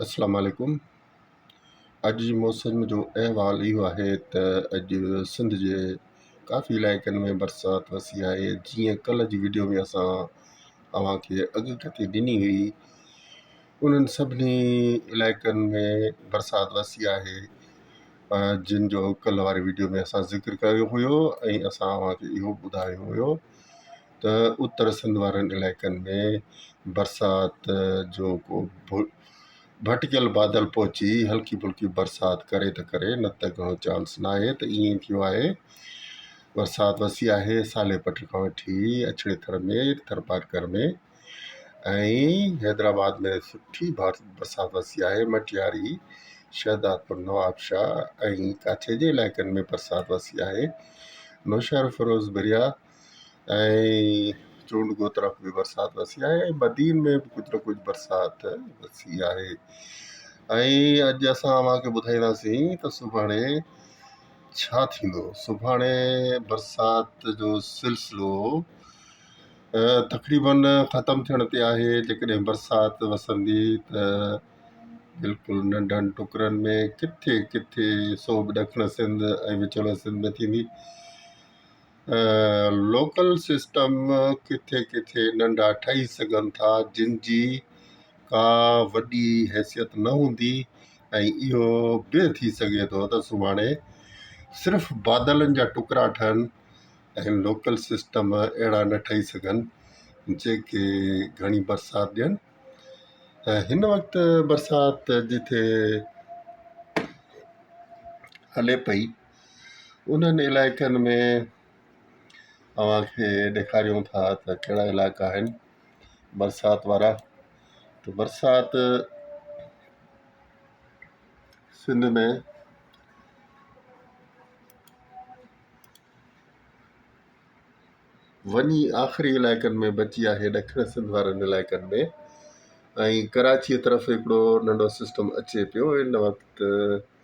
السلام عليڪم اڄ جي موسم جو احوال اهو آهي ته اڄ سنڌ جي ڪافي علائقن ۾ برسات وسي آهي جيئن ڪلهه جي وڊيو ۾ اسان اوهانکي اڳ ڪٿي ڏني هئي انهن سڀني علائقن ۾ برسات وسي آهي جن جو ڪلهه واري وڊيو ۾ اسان ذڪر ڪيو هيو ۽ اسان اوهانکي اهو ٻڌايو هيو ته اتر سنڌ وارن علائقن ۾ برسات جو ڪو ڀٽڪيل بادل پهچي هلڪي ڦلڪي برسات ڪري ته ڪري نه ته گهڻو چانس نه آهي ته ائين ٿيو آهي برسات وسي آهي سالي پٽ کان وٺي اڇڙي ٿر ۾ ٿرپارڪر ۾ ۽ حيدرآباد ۾ سٺي بار برسات وسي آهي مٽياري شهدادپور نوابشاهه ۽ ڪاڇي جي علائقن ۾ برسات وسي آهي نوشهروفيروز بريا ۽ چونڊ گو طرف به برسات وسي آهي ۽ بدين ۾ به ڪجهه نه ڪجهه برسات وسي آهي ۽ اڄ اسان اوهان کي ٻڌائينداسين ته سڀاڻي ڇا ٿيندو سڀاڻي برسات جو سلسلو تقريبن ختم ٿيڻ تي آهي جيڪڏهن برسات وسندي ته بلڪل ننڍن ٽڪرن ۾ ڪٿي ڪٿي سو به ڏکڻ سنڌ ۽ وچولي سنڌ ۾ ٿيندي لوڪل سسٽم ڪٿي ڪٿي ننڍا ٺهي سگهن ٿا جن جي ڪا وڏي حيثيت نه هوندي ۽ اهو به ٿي سگهي ٿو ته سڀاڻي صرف بادلن جا ٽڪرا ٺهن ۽ لوڪل سسٽم اهڙا نه ٺهي سگهن جيڪي گهڻي برسات ڏين ۽ هن وقت برسات جتي هلي پئي انهن علائقن ۾ اوهان کي ڏيکاريون ٿا ته ڪهڙا علائقا آهن برسات وارا ته برسات سنڌ ۾ وڃي آخري علائقن ۾ بچي آهي ڏکڻ سنڌ وارن علائقن ۾ ۽ ڪراچيء طرف هڪڙو ننڍو سسٽم اچي پيو ان وقت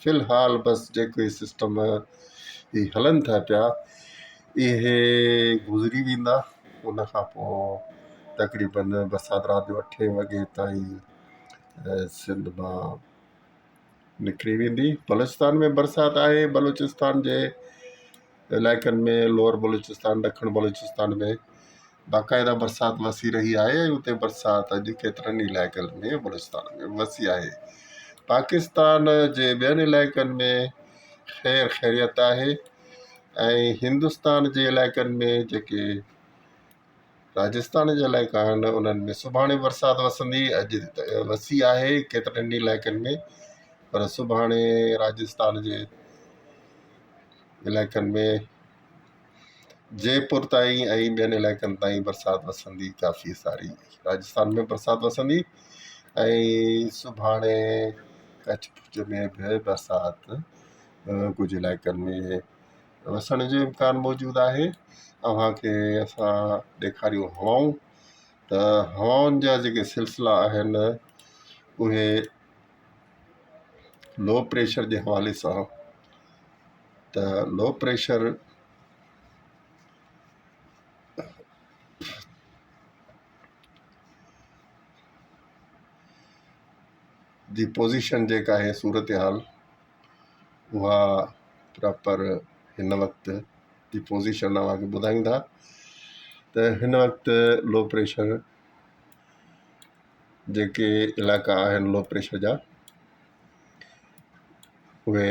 في الحال بس جيڪي سسٽم هي هلن ٿا پيا اهي گذري ويندا ان کان پوء تقريبن برسات رات جو اٺ وڳي تائين سنڌ مان نڪري ويندي بلوچستان ۾ برسات آهي بلوچستان جي علائقن ۾ لوئر بلوچستان، ڏکڻ بلوچستان ۾ باقاعده برسات وسي رهي آهي ۽ اتي برسات اڄ ڪيترن ئي علائقن ۾ بلوچستان ۾ وسي آهي. پاڪستان جي ٻين علائقن ۾ خير خيريت آهي ۽ هندستان جي علائقن ۾ جيڪي راجسٿان جي علائقا آهن انهن ۾ سڀاڻي برسات وسندي اڄ وسي آهي ڪيترن ئي علائقن ۾ پر سڀاڻي راجسٿان جي علائقن ۾ جيپور تائين ۽ ٻين علائقن تائين برسات وسندي ڪافي ساري راجسٿان ۾ برسات وسندي ۽ سڀاڻي ڪڇ ڀج ۾ به برسات ڪجهه علائقن ۾ وسڻ جو امڪان موجود آهي اوهان کي اسان ڏيکاريون هوائون ته هوائن جا جيڪي سلسلا آهن اهي لو پريشر جي حوالي سان ته لو پريشر جي پوزيشن جيڪا آهي صورتحال اها پراپر هن وقت جي پوزيشن اوهان کي ٻڌايون ٿا ته هن وقت لو پريشر جيڪي علائقا آهن لو پريشر جا اهي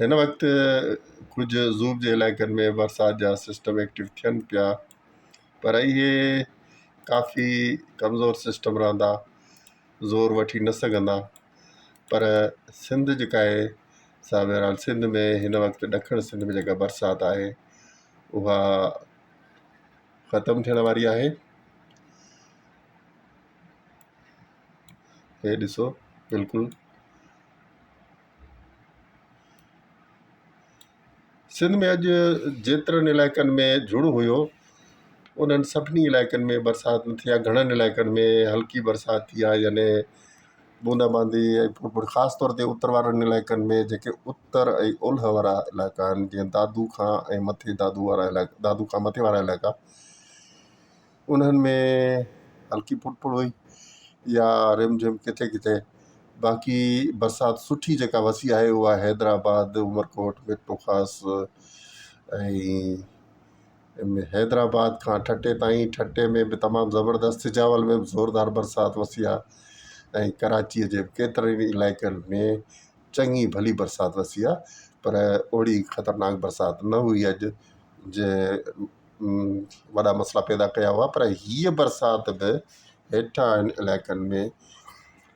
هن وقت ڪجهه زوب جي علائقن ۾ برسات جا سسٽم ايڪٽو ٿين پيا پر اهي ڪافي ڪمزور سسٽم رهندا زور وٺي نه سگهندا پر سنڌ جيڪا آهي سا بهرحال سنڌ ۾ هن وقت ڏکڻ سنڌ ۾ جيڪا برسات آهي اها ختم ٿيڻ واري آهي هي ڏسو بلڪل سنڌ ۾ اڄ جيترن علائقن ۾ جھڙ هيو انهن سڀني علائقن ۾ برسات نه ٿي آهي گھڻن علائقن ۾ هلڪي برسات ٿي آهي يعني بوندا باندي ۽ ڦڙ ڦڙ خاص طور تي اتر وارن علائقن ۾ جيڪي اتر ۽ اولهه وارا علائقا آهن جيئن دادو کان ۽ مٿي دادو وارا علائقا دادو کان مٿي وارا علائقا انهن ۾ هلڪي ڦڙ ڦڙ هئي يا رم جم ڪٿي ڪٿي باقي برسات سٺي جيڪا وسي آهي اها حيدرآباد عمرڪوٽ ميرپورخاص ۽ حيدرآباد کان ٺٽي تائين ٺٽي ۾ به تمام زبردست سجاول ۾ به زوردار برسات وسي آ ۽ ڪراچيء جي ڪيترن ئي علائقن ۾ چڱي ڀلي برسات وسي آ پر اوڙي خطرناڪ برسات نه هئي اڄ جنهن وڏا مسئلا پيدا ڪيا هئا پر هيء برسات به هيٺاهن علائقن ۾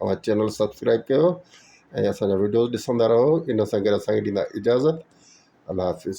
اوهان چينل سبسڪرائب ڪيو ۽ اسان جا وڊيوز ڏسندا رهو ان سان گڏ اسان کي ڏيندا اجازت الله حافظ